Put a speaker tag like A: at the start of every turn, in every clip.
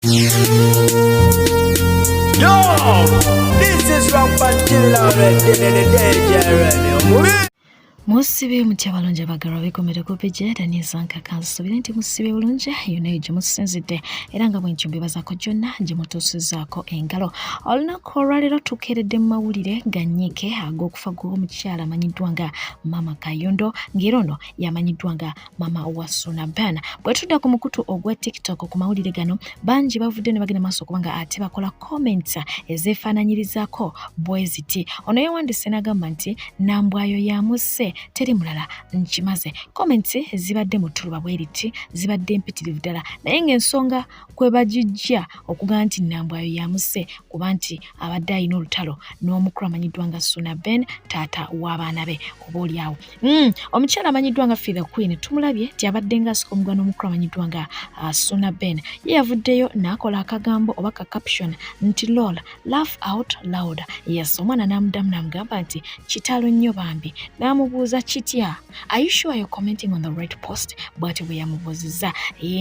A: Yo, this is Robert Killer,
B: musibe mutya balungi abagalwa bekomere kupija era nezankaka nsubire nti musibe bulungi yonayo gyemusinzidde era nga bwentyo mbibazako gyonna gyemutuusizaako engalo olunaku olwaleero tukeeredde mu mawulire ganyiike ag'okufa gw'omukyala amanyiddwa nga maama kayondo ng'era ono yamanyiddwa nga mama wa Suna Bana. Bwe tudda ku mukutu ogwa TikTok ku mawulire gano, bangi bavudde ne bagenda maaso kubanga ate bakola comments ezeefaananyirizako bwe ziti. Ono yawandise n'agamba nti Nambwayo yamusse teri mulala nkimaze. Comments zibadde mu ttuluba bwe liti zibadde mpitirivu ddala naye ng'ensonga kwe bagijja okuga nti Nambwayo yamusse kuba nti abadde alina olutalo n'omukulu amanyiddwa nga Suna Ben taata w'abaana be oboolyawo Mm, omukyala amanyiddwa nga Fee the Queen tumulabye nti abadde nga asika omugano omukulu amanyiddwa nga uh, Suna Ben ye yavuddeyo n'akola akagambo oba ka caption nti lol laugh out loud yes omwana n'amudamu n'amugamba nti kitalo nnyo bambi n'amubuuza kitya are you sure you're commenting on the right post bw'atyo bwe yamubuuzizza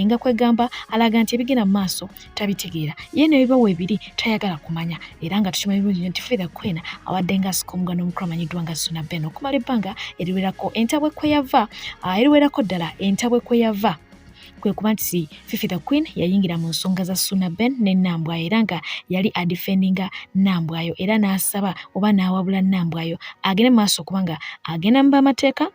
B: nga kwegamba alaga nti ebigenda mu maaso tabitegeera ye nebiba webiri tayagala kumanya era nga tukimanyi bulungi nyo nti frida kwena awadde nga asika omugano omukulu amanyiddwa nga suna ben okumala ebbanga eriwerako entabwe kweyava ah, eriwerako ddala entabwe kweyava kwe kuba nti fifi the queen yayingira mu nsonga za suna ben ne nambwayo era nga yali adifendinga nambwayo era n'asaba oba n'awabula nambwayo agende maaso kubanga agenda mu bamateeka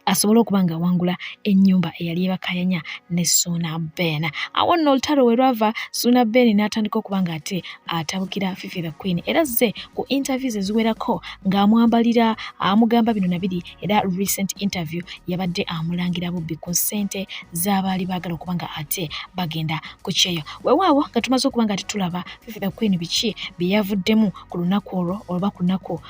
B: asobole okuba nga awangula ennyumba eyali ebakayanya ne suuna ben awo nno olutalo we lwava suuna ben n'atandika okuba nga ate atabukira fifi the queen era zze ku interviews eziwerako ng'amwambalira amugamba bino na biri era recent interview yabadde amulangira bubbi ku ssente z'abaali baagala okuba nga ate bagenda ku kyeyo wewaawo nga tumaze okuba nga tetulaba fifi the queen biki bye yavuddemu ku lunaku olwo olwoba ku lunaku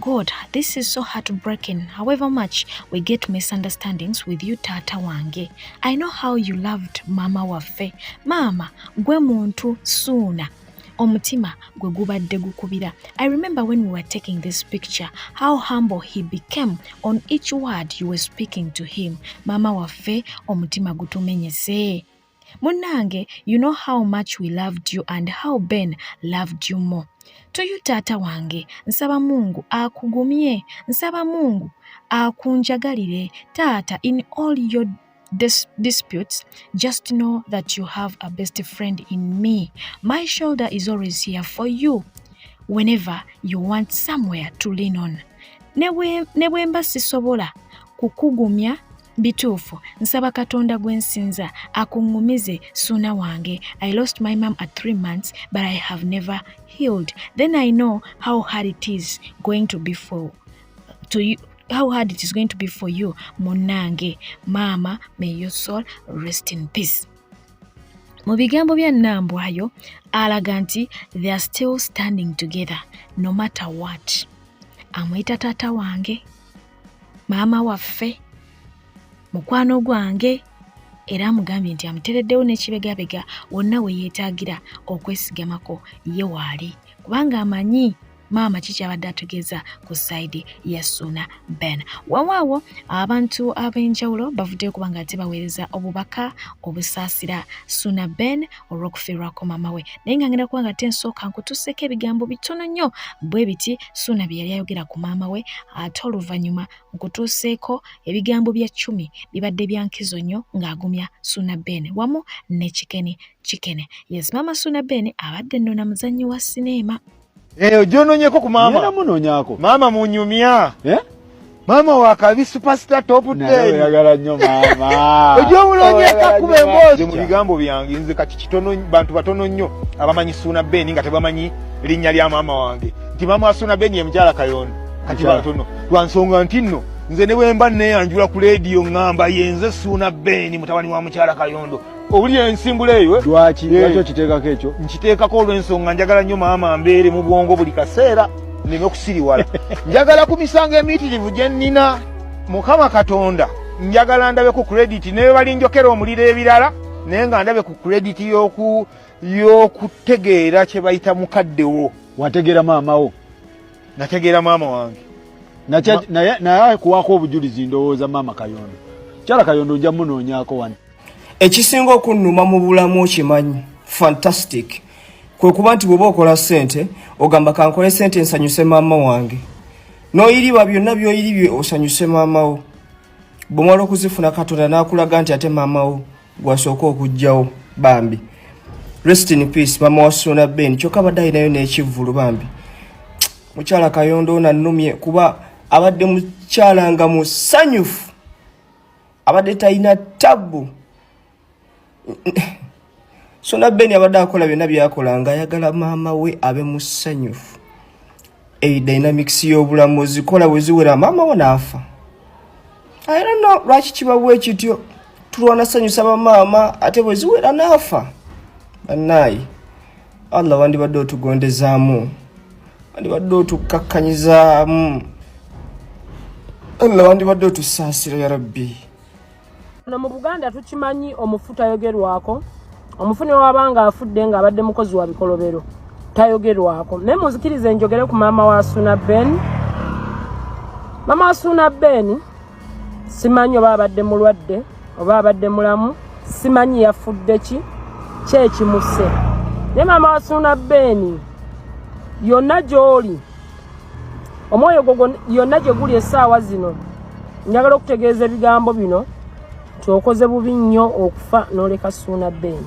B: God, this is so heartbreaking. However much we get misunderstandings with you tata wange. I know how you loved mama waffe. Mama, gwe muntu suuna omutima gwe gubadde gukubira i remember when we were taking this picture how humble he became on each word you were speaking to him maama waffe omutima gutumenyese Munange, you know how much we loved you and how Ben loved you more. To you taata wange, nsaba Mungu akugumye, nsaba Mungu akunjagalire taata in all your dis disputes, just know that you have a best friend in me. My shoulder is always here for you whenever you want somewhere to lean on. Ne bwemba sisobola kukugumya bituufu nsaba katonda gwe nsinza akuŋŋumize suuna wange i lost my mom at three months but i have never healed then i know how hard it is going to be for to you, how hard it is going to be for you munnange maama may your soul rest in peace mu bigambo bya nambwayo alaga nti they are still standing together no matter what amuyita taata wange maama waffe mukwano gwange era amugambye nti amutereddewo n'ekibegabega wonna we yeetaagira okwesigamako ye waali kubanga amanyi maama kikyabadde ategeeza ku sayidi ya suuna ben wawaawo abantu ab'enjawulo bavuddeyo kuba nga ate baweereza obubaka obusaasira suuna ben olw'okufiirwako maama we naye nga ngenda kuba nga te nsooka nkutuseeko ebigambo bitono nnyo bwe biti suuna bye yali ayogera ku maama we ate oluvannyuma nkutuuseeko ebigambo bya cumi bibadde bya nkizo nnyo ng'agumya suuna ben wamu ne kikeni kikene yes maama suuna ben abadde nno na muzannyi wa sineema Eh, ojononyeko
A: ku mama. Yena munonyako. Mama
C: munyumya.
A: Eh? Mama wa kabi superstar top 10. Na yagala nyo
C: mama. Ojomulonyeka oh,
A: kube mbozi. Mu bigambo byange nze kati kitono bantu batono nyo abamanyi suna beni nga tebamanyi linya lya mama wange. Ti mama suna beni emjala kayon. Kati batono. Twansonga ntino. Nze ne wemba ne anjula ku radio ngamba yenze suna beni mutawani wa mchara kayondo. owuli ensimbula eyo eh? lwaki eh. lwaki okiteekako ekyo
C: nkiteekako
A: olw'ensonga njagala nnyo
C: maama
A: mbeere mu bwongo buli kaseera neme okusiriwala njagala ku misango emiitirivu gye nnina mukama katonda njagala ndabe ku krediti naye balinjokera omuliro ebirala naye nga ndabe ku krediti y'okutegeera kye bayita mukaddewo wategeera maamawo
C: nategeera
A: maama wange
C: naye kuwaako obujulizi ndowooza maama kayondo kyala kayondo ojja munoonyaako wani ekisinga
D: okunnuma mu bulamu okimanyi fantastic kwe kuba nti bw'oba okola ssente ogamba kankole ssente nsanyuse maama wange n'oyiriba byonna by'oyiribye osanyuse maama wo bw'omala okuzifuna katonda n'akulaga nti ate maama wo gwasooka okugjawo bambi rest in peace mama wa sona ben kyoka abadde alinayo n'ekivvulu bambi mukyala kayondo onannumye kuba abadde mukyala nga musanyufu abadde talina tabbu sona beni abadde akola byonna byakola nga ayagala maama we abe musanyufu eyi dynamics y'obulamu ozikola bwe ziwera maama we naafa ayirano lwaki kibabu ekityo tulwana sanyusa bamaama ate bwe ziwera naafa bannaayi allah wandibadde otugondezaamu wandibadde otukkakkanyizaamu allah wandibadde otusaasira ya rabbi no mu
E: buganda tukimanyi omufu tayogerwako omufu newaba nga afudde nga abadde mukozi wa bikolobero tayogerwako naye muzikiriza enjogere ku maama wa suna ben maama wa suna ben simanyi oba abadde mulwadde oba abadde mulamu simanyi yafudde ki kyekimuse naye maama wasuuna beeni yonna gy'oli omwoyo gwo yonna gye guli essaawa zino njagala okutegeeza ebigambo bino twokoze bubi nnyo okufa noleka suuna ben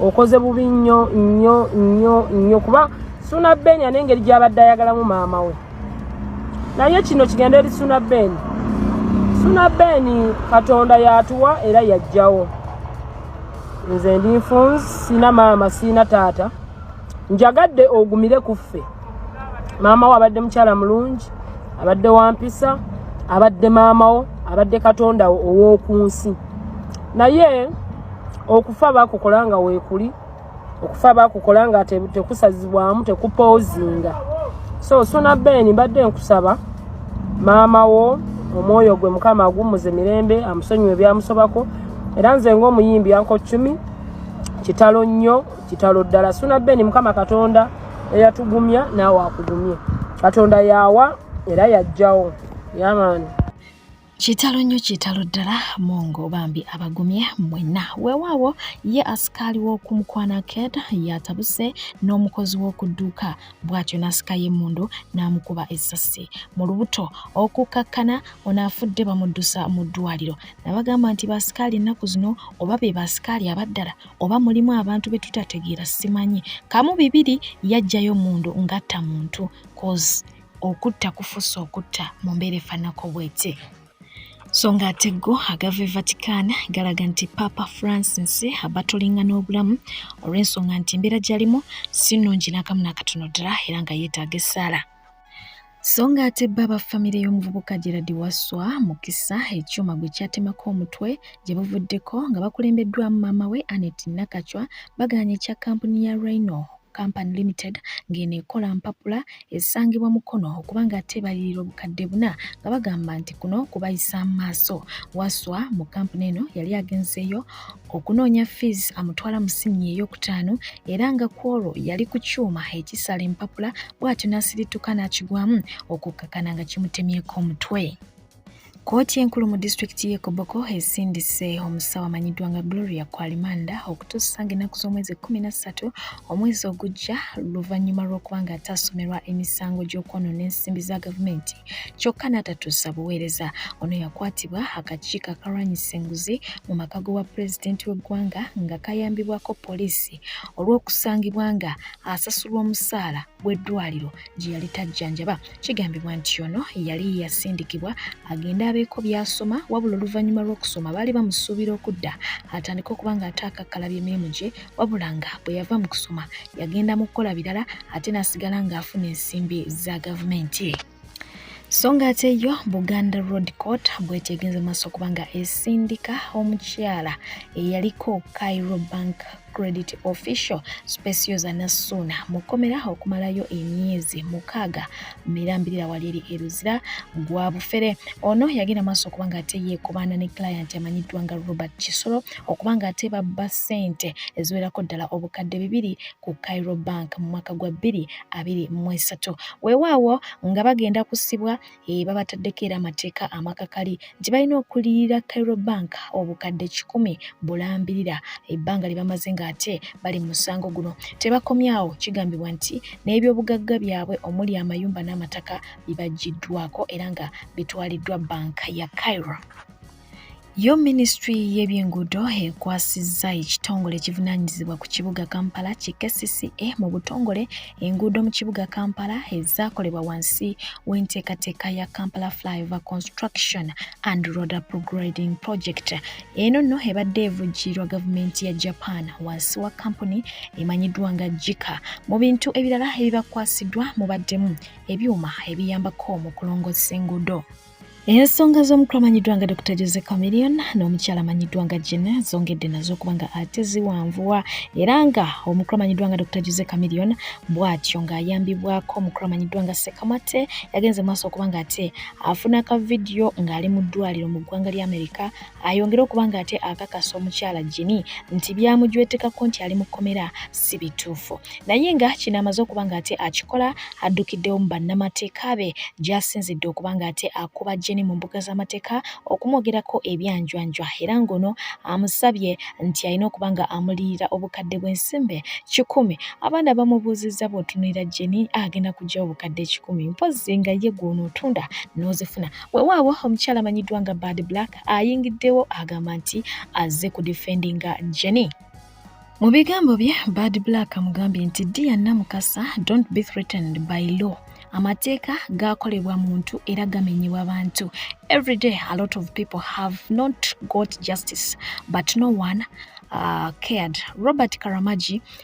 E: okoze bubi nnyo nnyo nnyo nnyo kuba suuna ben ane engeri gyabadde ayagalamu maama we naye kino kigenda eri suuna ben suuna ben katonda yatuwa era yajjawo nze ndi nfunzi sina maama sina taata njagadde ogumire ku ffe maama wo abadde mukyala mulungi abadde wampisa abadde maama wo abadde katonda wo ow'oku nsi naye okufa bakukola nga weekuli okufa bakukola nga tekusazibwamu tekupoozinga so suna ben mbadde nkusaba maama wo omwoyo gwe mukama agumuze mirembe amusonyiwe ebyamusobako era nze ngaomuyimbi yanko cumi kitalo nnyo kitalo ddala suna ben mukama katonda eyatugumya naawe akugumye katonda yaawa era yajjawo yamaani kitalo
B: nnyo kitalo ddala mungu bambi abagumye mwenna weewaawo ye asikaali w'oku mukwana ked yatabuse n'omukozi w'oku dduuka bw'atyo n'asika y'emmundu n'amukuba essasi mu lubuto okukkakkana ono afudde bamuddusa mu ddwaliro nabagamba nti baasikaali ennaku zino oba be baasikaali abaddala oba mulimu abantu be tutategeera simanyi kamu bibiri yajjayo mundu ngatta muntu cause okutta kufusa okutta mu mbeera efanako bwete so ng'ate go agava e vatican galaga nti papa francis abatulinga n'obulamu olw'ensonga nti embeera gyalimu si nnungi n'akamu nakatono ddala era nga yeetaaga essaala so ng'ate bba ba famire y'omuvubuka gerard wasswa mukisa ekyuma gwe kyatemako omutwe gye buvuddeko nga bakulembeddwamu maama we anet nakacwa bagaanye ekya kampuni ya rhino Company Limited ng'eno ekola mpapula esangibwa Mukono okuba ng'ateebalirira obukadde buna nga bagamba nti kuno kubayisa maaso. Waswa mu kampuni eno yali agenzeeyo okunoonya fees amutwala mu siniya eyokutaano era nga kwolwo yali ku kyuma ekisala empapula bw'atyo n'asirituka n'akigwamu okukkakana nga kimutemyeko omutwe. Kkooti enkulu mu disitulikiti y'e Koboko esindise omusawo amanyiddwa nga Gloria Kwalimanda okutuusa ng'ennaku z'omwezi ekkumi na ssatu omwezi ogujja luvannyuma lw'okuba ng'ataasomerwa emisango gy'okwonoona ensimbi za gavumenti kyokka n'atatuusa buweereza. Ono yakwatibwa akakiiko akalwanyisa enguzi mu maka g'obwa pulezidenti w'eggwanga nga kayambibwako poliisi olw'okusangibwa nga asasulwa omusaala gw'eddwaliro gye yali tajjanjaba. Kigambibwa nti ono yali yasindikibwa agende abeeko by'asoma wabula oluvannyuma lw'okusoma baali bamusuubira okudda atandike okuba ng'ate akakkalabya emirimu gye wabula nga bwe yava mu kusoma yagenda mu kukola birala ate n'asigala ng'afuna ensimbi za gavumenti so ng'ate yo buganda road court bwetegenze maaso kubanga esindika omukyala eyaliko cairo bank credit official specioza nassuuna mu kkomera okumalayo emyezi mukaaga mirambirira wali eri eruzira gwa bufere ono yagenda maaso okuba nga ate yeekobaana ne client amanyiddwa nga robert kisolo okuba ng'ate babba ssente eziwerako ddala obukadde bibiri ku Cairo Bank mu mwaka gwa bbiri abiri mu esatu. Weewaawo nga bagenda kusibwa eh, babataddeko era amateeka amakakali nti balina okuliyirira Cairo Bank obukadde kikumi bulambirira ebbanga lye bamaze ng'ate bali mu musango guno. Tebakomyawo kigambibwa nti n'ebyobugagga byabwe omuli amayumba n'amataka bibaggiddwako era nga bitwaliddwa banka ya Cairo. Yo minisitule y'ebyenguudo ekwasizza ekitongole ekivunaanyizibwa ku kibuga Kampala ki KCCA mu butongole enguudo mu kibuga Kampala ezaakolebwa wansi w'enteekateeka ya Kampala Flyover Construction and Road Upgrading Project. Eno nno ebadde evujjiirwa gavumenti ya Japan wansi wa kampuni emanyiddwa nga JICA. Mu bintu ebirala ebibakwasiddwa mubaddemu ebyuma ebiyambako mu kulongoosa enguudo. Ensonga z'omukulu amanyiddwa nga Dr Jose Chameleon n'omukyala amanyiddwa nga Gina zongedde nazo okuba nga ate ziwanvuwa era nga omukulu amanyiddwa nga Dr Jose Chameleon bw'atyo ng'ayambibwako omukulu amanyiddwa nga Sekamate yagenze maaso okuba nga ate afuna ka vidiyo ng'ali mu ddwaliro mu ggwanga lya Amerika ayongere okuba nga ate akakasa omukyala Jini nti byamujwetekako nti ali mu kkomera si bituufu naye nga kino amaze okuba nga ate akikola addukiddewo mu bannamateeka be gyasinzidde okuba nga ate akuba Jini mu mbuga z'amateeka okumwogerako ebyanjwanjwa era ng'ono amusabye nti alina okuba nga amuliyira obukadde bw'ensimbe kikumi abaana bamubuuzizza bw'otunulira Jini agenda kugyawo obukadde ekikumi mpozzi nga ye gw'onootunda n'ozifuna Wewaawo omukyala amanyiddwa nga Bad Black ayingiddewo agamba nti azze ku defendinga Jenny. Mu bigambo bye Bad Black amugambye nti Dear Namukasa don't be threatened by law amateeka gaakolebwa muntu era gamenyebwa bantu every day a lot of people have not got justice but no one uh, cared robert karamagi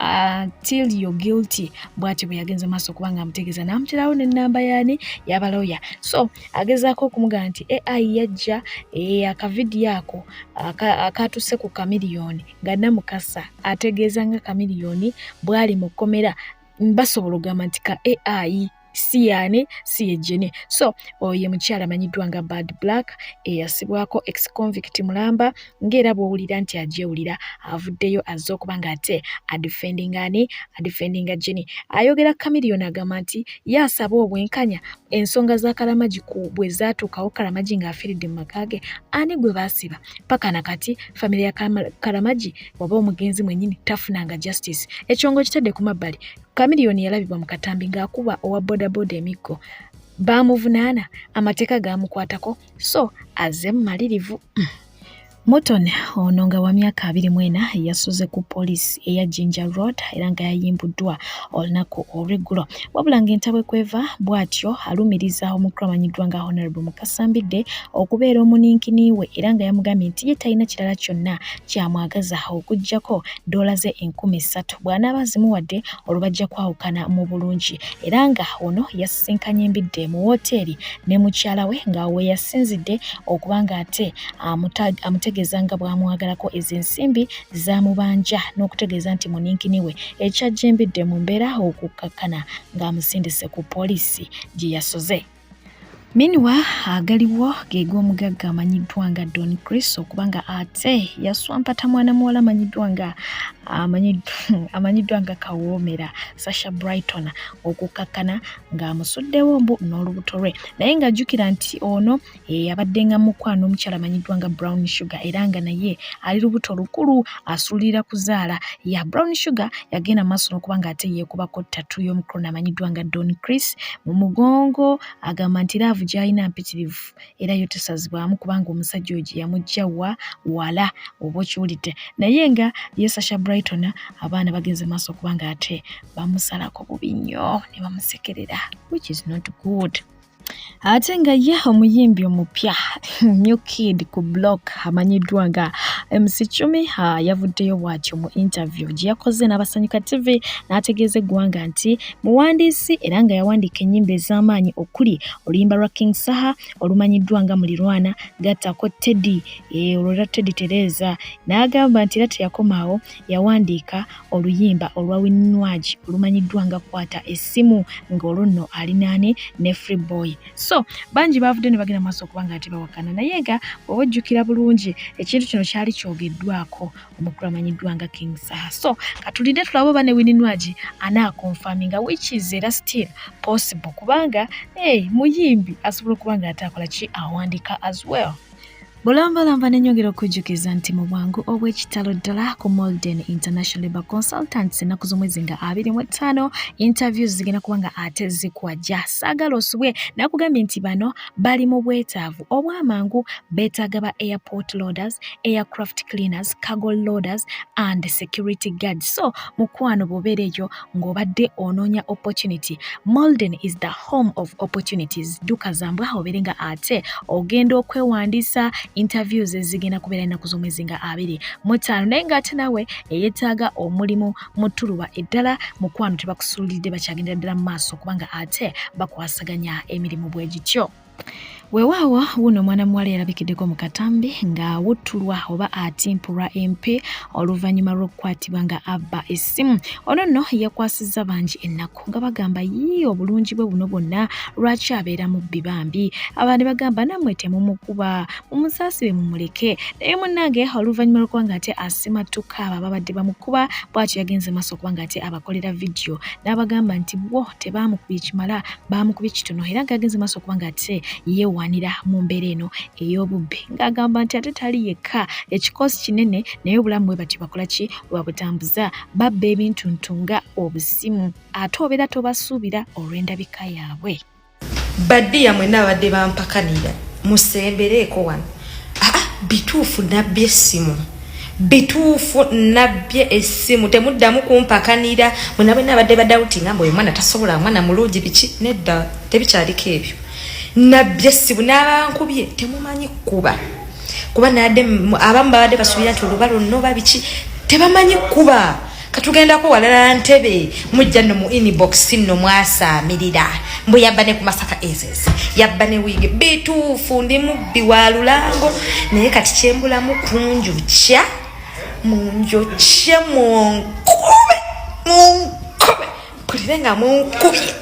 B: Uh, till you're guilty bwati bwe yagenze maaso kubanga amutegeeza n'amuterawo n'ennamba yaani yabaloya so agezaako okumugamba nti ai yajja eh, akavidiyo ako akaatuuse ku kamiliyoni nga namukasa ategeeza nga kamiliyoni bwali mu kkomera basobola okugamba nti ka ai si yaani si yejjini so oyo mukyala amanyiddwa nga bad black eyasibwako ex convict mulamba ng'era bw'owulira nti agyewulira avuddeyo azze okuba nga ate adifendinga ani adifendinga jini ayogera kamiriyoni agamba nti ye asaba obwenkanya ensonga za kalamagi ku bwe zaatuukawo kalamagi ng'afiiridde mu maka ge ani gwe baasiba paka na kati famire ya kalamagi oba omugenzi mwennyini tafunanga justice ekyongo kitadde ku mabbali Chameleone yalabibwa mu katambi ng'akuba owa bodaboda emiggo baamuvunaana amateeka gaamukwatako so aze mumalirivu mm. Morton ono nga wa myaka abiri mu ena yasuze ku poliisi eya Jinja Road era nga yayimbuddwa olunaku olw'eggulo wabula ng'entabwe kweva bw'atyo alumiriza omukulu amanyiddwa nga Honorable Mukasa Mbidde okubeera omuninkini we era nga yamugambye nti ye talina kirala kyonna kyamwagaza okuggyako ddoola ze enkumi ssatu bw'anaaba azimuwadde olwo bajja kwawukana mu bulungi era nga ono yasisinkanye embidde mu wooteeri ne mukyala we nga we yasinzidde okuba ng'ate amutegeeza nga bw'amwagalako ezo ensimbi z'amubanja n'okutegeeza nti muninkini we ekyajja embidde mu mbeera okukkakkana ng'amusindise ku poliisi gye yasoze Miniwa agaliwo geega omugagga amanyiddwa nga Don Chris okuba nga ate yaswampata mwana muwala amanyiddwa nga amanyiddwa nga kawoomera Sasha Brighton okukkakkana ng'amusuddewo mbu n'olubuto lwe naye ng'ajjukira nti ono eyabadde nga mukwano omukyala amanyiddwa nga Brown Sugar era nga naye ali lubuto lukulu asuulirira kuzaala ya brown sugar yagenda maaso n'okuba ng'ate yeekubako ttatu y'omukrona amanyiddwa nga don chris mu mugongo agamba nti laavu gy'alina mpitirivu era yo tesazibwamu kubanga omusajja oyo gye yamujja wa wala oba okiwulidde naye nga ye sasha brighton abaana bagenze maaso okuba ng'ate bamusalako bubi nnyo ne bamusekerera which is not good ate nga ye omuyimbi omupya new kid ku block amanyiddwa nga mc cumi yavuddeyo bwatyo mu interview gye yakoze n'abasanyuka tv n'ategeeza eggwanga nti muwandiisi era nga yawandiika ennyimba ez'amaanyi okuli oluyimba lwa king saha olumanyiddwa nga mulirwana gattako teddy eh, olwo era teddy tereeza n'agamba nti era teyakomaawo yawandiika oluyimba olwa winwagi olumanyiddwa nga kwata essimu ng'olwo nno alinaani ne free boy so bangi baavudde ne bagenda maaso okuba nga tebawakana naye nga oba ojjukira bulungi ekintu kino kyali kyogeddwako omukulu amanyiddwa nga king saha so katulidde tulaba oba ne winwagi anaakonfaminga which is era still possible kubanga hey, muyimbi asobola okuba nga ate akola ki awandiika as well bulambalamba nenyongera okujjukiza nti mu bwangu obw'ekitalo ddala ku molden international labor consultants ennaku z'omwezi nga abiri mu ettaano interviews zigenda kuba nga ate zikwajja saagala osubwe nakugambye nti bano bali mu bwetaavu obwamangu beetaaga ba airport loaders aircraft cleaners cargo loaders and security guard so mukwano bwobeera eyo ng'obadde onoonya opportunity molden is the home of opportunities dduka zambwa obeere nga ate ogenda okwewandiisa interviews ezigenda kubeera ennaku z'omwezi nga abiri mutaano naye ng'ate nawe eyeetaaga omulimu mu ttuluba eddala mukwano tebakusuulidde bakyagendera ddala mu maaso kubanga ate bakwasaganya emirimu bwe gityo Wewaawo wuno omwana muwala yalabikiddeko mu katambi ng'awuttulwa oba atimpulwa empi oluvannyuma lw'okukwatibwa nga abba essimu. Ono nno yakwasizza bangi ennaku nga bagamba yii obulungi bwe buno bwonna lwaki abeera mubbi bambi. Abandi bagamba nammwe temumukuba mumusaasire mumuleke naye munnange oluvannyuma lw'okuba ng'ate asimattuka abo ababadde bamukuba bw'atyo yagenze maaso okuba ng'ate abakolera vidiyo n'abagamba nti bo tebaamukubye kimala baamukuba ekitono era ng'agenze maaso okuba ng'ate yeewaanira mu mbeera eno ey'obubbi ng'agamba nti ate tali yekka ekikoosi kinene naye obulamu bwe batyo bakola ki webabutambuza babba ebintu ntu nga obusimu ate obeera tobasuubira olw'endabika yaabwe baddiya
F: mwenna abadde bampakanira musembereeko wano bituufu nabbye essimu bituufu nabbye essimu temuddamu kumpakanira mwena bwena abadde badawuti nga mboyo omwana tasobola mwana mulungi biki nedda tebikyaliko ebyo nabbye essimu n'abankubye temumanyi kukuba kuba nade abamu babadde basuubira nti oluba lwonna oba biki tebamanyi kukuba katugendako walala ntebe mujja no mu inbox no mwasaamirira mbu yabba ne ku masaka ezes yabba ne wiige bituufu ndi mubbi wa lulango naye kati kyembulamu kunjukya munjukye munkube munkube mpulire nga munkubye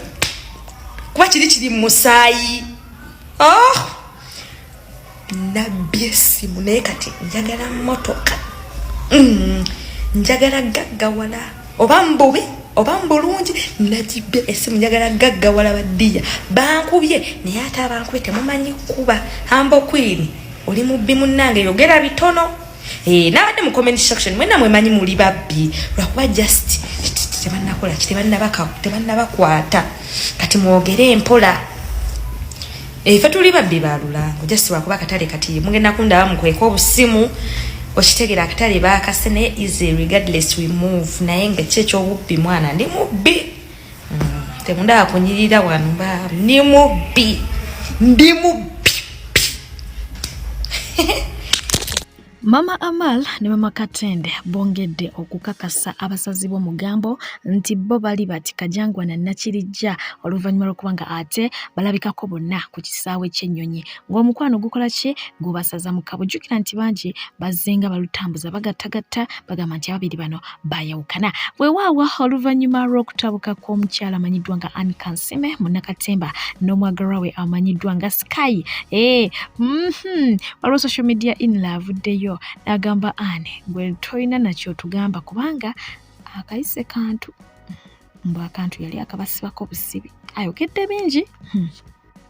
F: kuba kiri kiri mu musaayi oh! nabbye essimu naye kati njagala motoka mm, njagala gaggawala oba mbubi oba mbulungi nagibbye essimu njagala gaggawala baddiya bankubye naye ate abankubye temumanyi kuba ambokwini oli mubbi munnange yogera bitono eh, nabadde mu comment section mwena mwemanyi muli babbi lwakuba just tebanakola ki tebanabakwata kati mwogere empola efe eh, tuli babbi ba lulango just wakuba akatale kati mugenda kundaba mukweka obusimu okitegera akatale bakase naye easy regardless we move naye nga ki ekyobubbi mwana ndi mubbi mm, temundaba kunyirira wano mba ndi mubbi ndi mubbi
B: Mama Amal ne Mama Katende bongedde okukakasa abasazi b'omugambo nti bo bali bati Kajangwa na Nakirijja oluvannyuma lw'okuba nga ate balabikako bonna ku kisaawe ky'ennyonyi ng'omukwano gukola ki gubasaza mu kabo. Jjukira nti bangi bazzenga balutambuza bagattagatta bagamba nti ababiri bano baayawukana weewaawo oluvannyuma lw'okutabuka kw'omukyala amanyiddwa nga Anne Kansime munnakatemba n'omwagalwa we amanyiddwa nga Sky ee eh, mhm, waliwo social media inla avuddeyo n'agamba Anne gwe tolina nakyo tugamba kubanga akayise kantu mbu akantu yali akabasibako busibi ayogedde bingi hmm.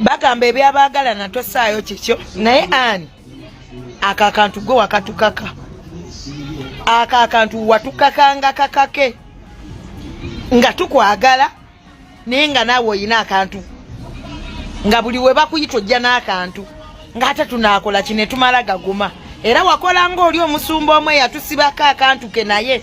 B: bagamba
G: ebyabagalana tosaayo kikyo naye ani ako akantu gwe wakatukaka ako akantu watukakanga kakake nga tukwagala naye nga naawe olina akantu nga buli we bakuyita ojja n'akantu ng'ate tunaakola ki ne tumala gaguma era wakola ng'oli omusumba omu eyatusibako akantu ke naye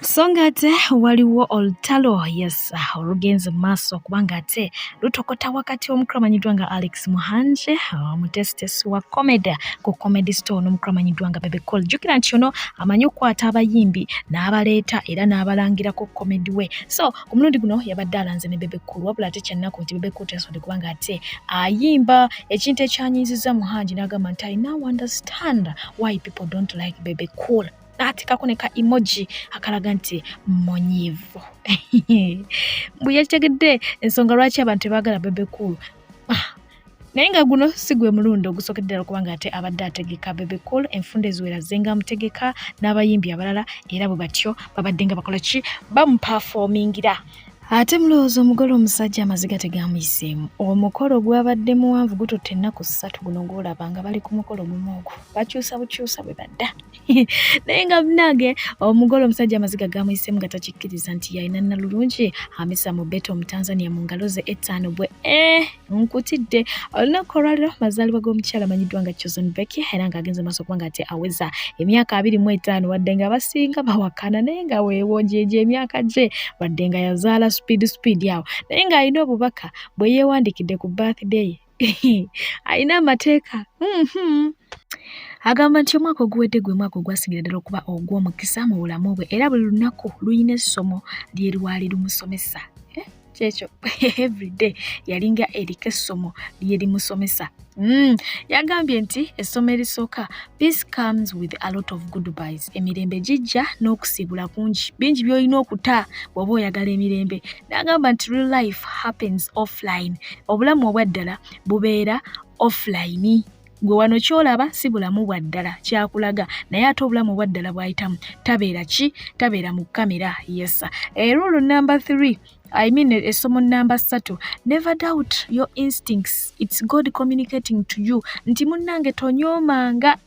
B: so ng'ate waliwo olutalo yes olugenze mu maaso kubanga ate lutokota wakati omukulu amanyiddwa nga alex muhanje omutesitesi wa comedy ku comedy store n'omukulu amanyiddwa nga bebe col jjukira nti ono amanyi okukwata abayimbi n'abaleeta era n'abalangira ku comedy we so ku mulundi guno yabadde alanze ne bebe col wabula ate kyannaku nti bebe col teyasobodde kubanga ate ayimba ekintu ekyanyiizizza muhanji n'agamba nti i now understand why people don't like bebe col n'ateekako ne ka emoji akalaga nti munyiivu mbu yakitegedde ensonga lwaki abantu tebaagala bebe cool ah, naye nga guno si gwe mulundi ogusookedde ddala kubanga ate abadde ategeka bebe cool enfunda eziwera zenga amutegeka n'abayimbi abalala era bwe batyo babadde nga bakola ki bamupafoomingira ate mulowooza omugole omusajja amaziga tegamuyiseemu omukolo gwabadde muwanvu gututte ennaku ssatu guno gwolaba nga bali ku mukolo gumu ogwo bakyusa bukyusa bwe badda naye nga munange omugole omusajja amaziga gamuyisemu nga takikkiriza nti yalina nalulungi amisa mu beta omutanzania mu ngalo ze ettaano bwe eh, nkutidde olunaku olwaliro mazaalibwa g'omukyala amanyiddwa nga chosen becky era nga agenze maaso okuba nga ate aweza emyaka abiri mu etaano wadde nga abasinga bawakana naye nga weewo gyejo emyaka gye wadde nga yazaala speed speed awo naye ng'alina obubaka bwe yeewandikidde ku birthday alina amateeka mm-hmm. agamba nti omwaka oguwedde gwe mwaka ogwasigira ddala okuba ogw'omukisa mu bulamu bwe era buli lunaku lulina essomo lye lwali lumusomesa eh, kyekyo everyday yalinga eriko essomo lyerimusomesa mm. yagambye nti essomo erisooka Peace comes with a lot of goodbyes. Emirembe gijja n'okusiibula kungi. Bingi by'olina okuta bw'oba oyagala emirembe. N'agamba nti real life happens offline. Obulamu obwa ddala bubeera offline. Gwe wano ky'olaba si bulamu bwa ddala kyakulaga naye ate obulamu obwa ddala bw'ayitamu tabeera ki tabeera mu kamera yesa. Eruulu eh, namba 3 I mean essomo namba ssatu never doubt your instincts it's God communicating to you nti munnange tonyoomanga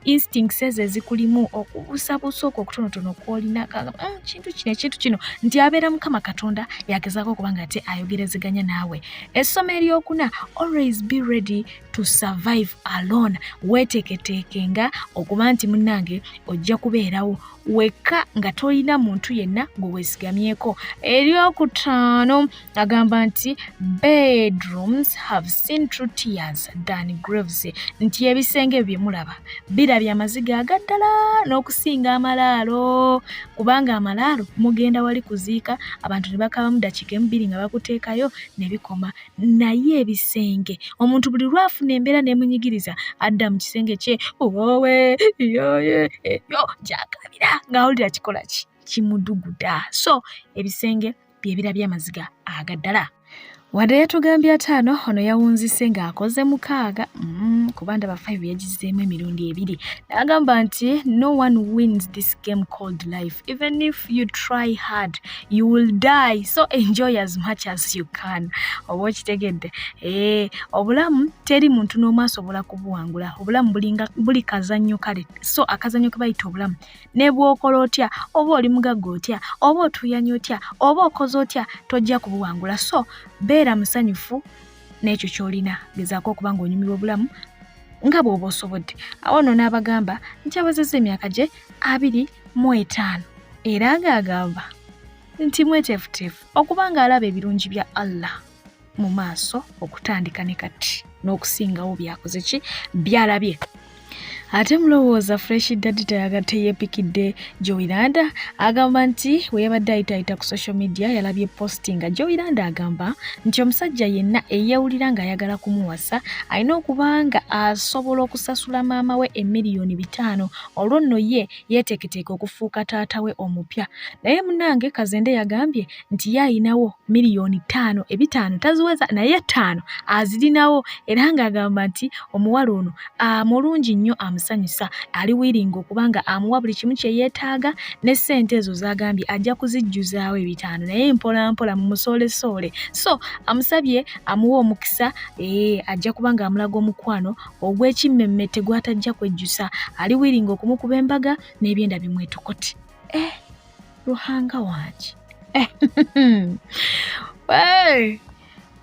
B: instincts ezo ezikulimu okubuusabuusa okwo okutonotono kwolina mm, kintu kino ekintu kino nti abeera mukama katonda yagezaako okuba nga ate ayogerezeganya naawe essomo eryokuna always be ready to survive alone weeteketeeke nga okuba nti munnange ojja kubeerawo wekka nga tolina muntu yenna gwe weesigamyeko eryokutaano agamba nti bedrooms have seen true tears than graves nti ebisenge bye mulaba birabye amaziga agaddala n'okusinga amalaalo kubanga amalaalo mugenda wali kuziika abantu ne bakabamu dakiika emubiri nga bakuteekayo ne bikoma naye ebisenge omuntu buli lwafuna embeera nemunyigiriza adda mu kisenge kye owe yoye eyo gyakabira ng'awulira kikola ki kimuduguda so ebisenge byebira byamaziga agaddala wadde yatugambye ataano ono yawunzise ng'akoze mukaaga mm, kuba ndaba five yagizeemu emirundi ebiri n'agamba nti no one wins this game called life. Even if you try hard, you will die. So enjoy as much as you can. Oba okitegedde eh, obulamu teri muntu n'omu asobola kubuwangula. Obulamu bulinga buli kazannyo kale, so akazannyo ke bayita obulamu. Ne bw'okola otya, oba oli mugagga otya, oba otuuyanya otya, oba okoze otya, tojja kubuwangula. So beera musanyufu. n'ekyo ky'olina gezaako okuba ng'onyumirwa obulamu nga bw'oba osobodde awo nno n'abagamba nti awezezza emyaka gye abiri mu etaano era ng'agamba nti mweteefuteefu okuba ng'alaba ebirungi bya allah mu maaso okutandika ne kati n'okusingawo byakoze ki byalabye ate mulowooza fresh daddy tayaga teyepikidde joiranda agamba nti bwe yabadde ayitayita ku social media yalabye posti nga joiranda agamba nti omusajja yenna eyewulira ng'ayagala kumuwasa alina okuba nga asobola okusasula maama we emiliyoni bitaano olwo nno ye yeeteeketeeka okufuuka taata we omupya naye munange kazende yagambye nti ye alinawo miliyoni ttaano ebitaano taziweza naye ttaano azirinawo era ng'agamba nti omuwala ono mulungi nnyo amusanyusa ali wiringa okuba nga amuwa buli kimu kye yeetaaga ne ssente ezo z'agambye ajja kuzijjuzaawo ebitaano naye mpolampola mu musoolesoole so amusabye amuwa omukisa ee eh, ajja kuba ng'amulaga omukwano ogw'ekimmemmette gw'atajja kwejjusa ali wiringa okumukuba embaga n'ebyenda bimwetokoti eh. luhanga wangi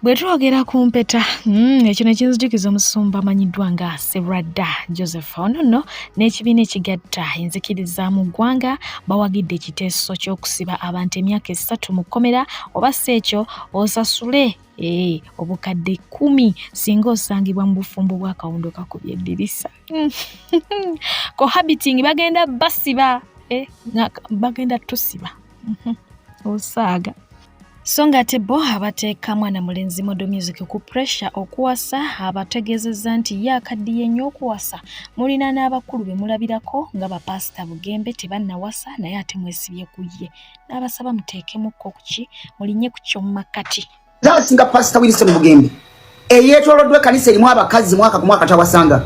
B: bwe twogera ku mpeta hmm, ekyo ne kinzijukiza omusumba amanyiddwa nga sebradda joseph ono nno n'ekibiina ekigatta enzikiriza mu ggwanga bawagidde ekiteeso ky'okusiba abantu emyaka esatu mu kkomera oba si ekyo osasule ee eh, obukadde kumi singa osangibwa mu bufumbo bw'akawundo kakubye eddirisa cohabiting bagenda basiba eh, bagenda tusiba mhm. osaaga so ng'ate bo abateeka mwana mulenzi modo music ku puresha okuwasa abategeezezza nti ye akaddiye nnyo okuwasa mulina n'abakulu be mulabirako nga bapaasita bugembe tebannawasa naye ate mwesibye ku ye n'abasaba muteekemukko kuki mulinye ku ky'omu makkati zasinga pastor
H: Wilson Mugembe eyetolodwe kanisa elimu abakazi mwaka ku mwaka tawasanga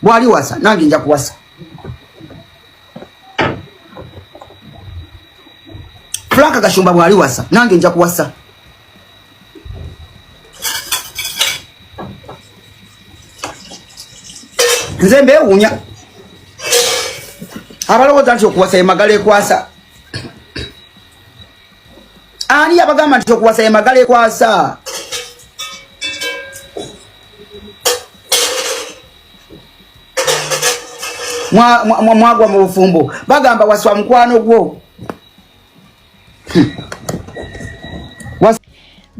H: bwali wasa nange nja kuwasa Frank Gashumba bwali wasa nange nja kuwasa nze mbewunya abalowooza nti okuwasa emagala ekwasa ani yabagamba nti okuwasa ye magala ekwasa mwagwa mu bufumbo bagamba waswa mukwano gwo
B: hmm.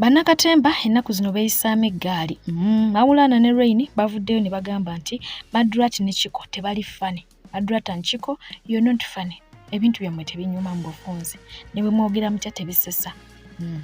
B: Bannakatemba ennaku zino beeyisaamu eggaali. Mm, Mawulaana ne Rain bavuddeyo ne bagamba nti Madrat ne Chiko tebali ffane. Adrata Nkiko, you're not funny. Ebintu byammwe tebinyuma mu bufunze. Ne bwe mwogera mutya tebisesa. Mm.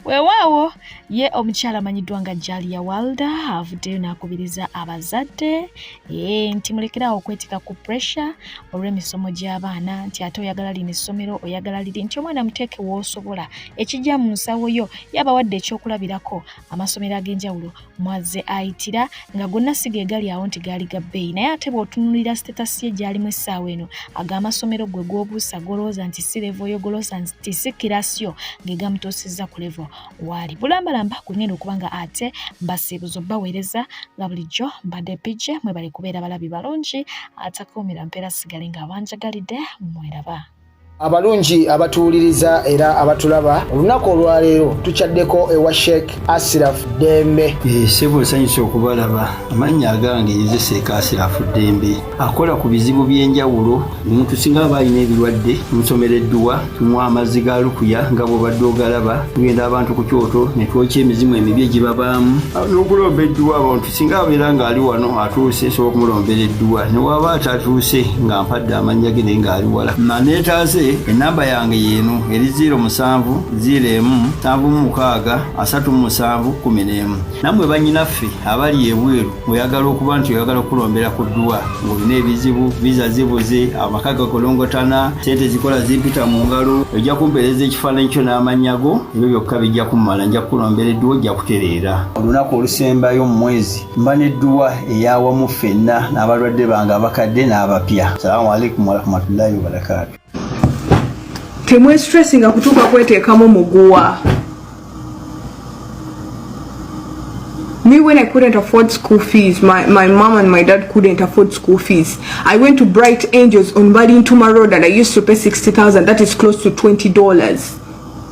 B: Weewaawo ye omukyala amanyiddwa nga Jalia Walda avuddeyo n'akubiriza abazadde ee nti mulekerawo okwetika ku pressure olw'emisomo gy'abaana nti ate oyagala lino essomero oyagala liri nti omwana muteeke woosobola ekijja mu nsawo yo yabawadde ekyokulabirako amasomero ag'enjawulo mwazze ayitira nga gonna si ge gali awo nti gaali ga bbeeyi naye ate bw'otunuulira sitetasi ye gy'alimu essaawa eno ag'amasomero gwe gw'obuusa golowooza nti si levo yo goloosa nti si kirasio ge gamutuusizza ku levo waali bulambalamba gwe ngenda okuba nga ate mbasiibuzo baweereza nga bulijjo mbadde pije mwebale kubeera balabi balungi atakuumira mpeera sigale ng'abanjagalidde mweraba abalungi
I: abatuwuliriza era abatulaba olunaku olwaleero tukyaddeko ewa sheik asiraf dembe eh, sebo nsanyusa
C: okubalaba amannya agange nze seeka asiraf dembe akola ku bizibu by'enjawulo omuntu singa aba alina ebirwadde omusomera edduwa tumuwa amazzi ga lukuya nga bwobadde ogalaba tugenda abantu ku kyoto netwokya emizimu emibi egibabaamu n'okulomba edduwa abantu singa abeera ng'ali wano atuuse nsobola okumulombera edduwa newaaba atatuuse nga mpadde amannya ge naye ng'ali wala maneetaase ennamba yange yeeno eri 0 musanvu 0 emu nsanvu mu mukaaga asatu mu musanvu kumi n'emu nammwe bannyinaffe abali ebweru oyagala okuba nti oyagala okukulombera ku dduwa ng'olina ebizibu viza zibuze amaka gakolongotana sente zikola zimpita mu ngalo ojja kumpeereza ekifaananyi kyo n'amannya go ebyo byokka bijja kummala nja kukulombera edduwa ojja kutereera olunaku olusembayo mu mwezi mba n'edduwa eyawamu ffenna n'abalwadde bange abakadde n'abapya salaamu aleikum warahmatullahi wabarakaatu
J: temwesitressi nga kutuuka kweteekamu muguwa me when I couldn't afford school fees, my, my mom and my dad couldn't afford school fees. I went to Bright Angels on Balintuma Road and I used to pay 60,000. That is close to $20.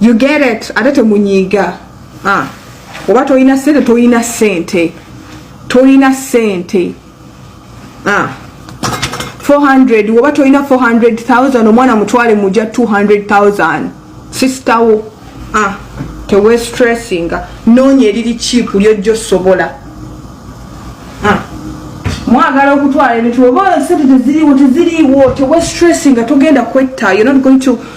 J: you get it ate temunyiiga ah. oba tolina sente tolina sente tolina sente ah. 400 oba tolina 400000 omwana mutwale muja 200000 sister wo ah. tewestressinga noonya eriri kiipu lyojja osobola ah. mwagala okutwala ebintu oba sente teziriwo teziriwo tewestressinga togenda kwetta you're not going to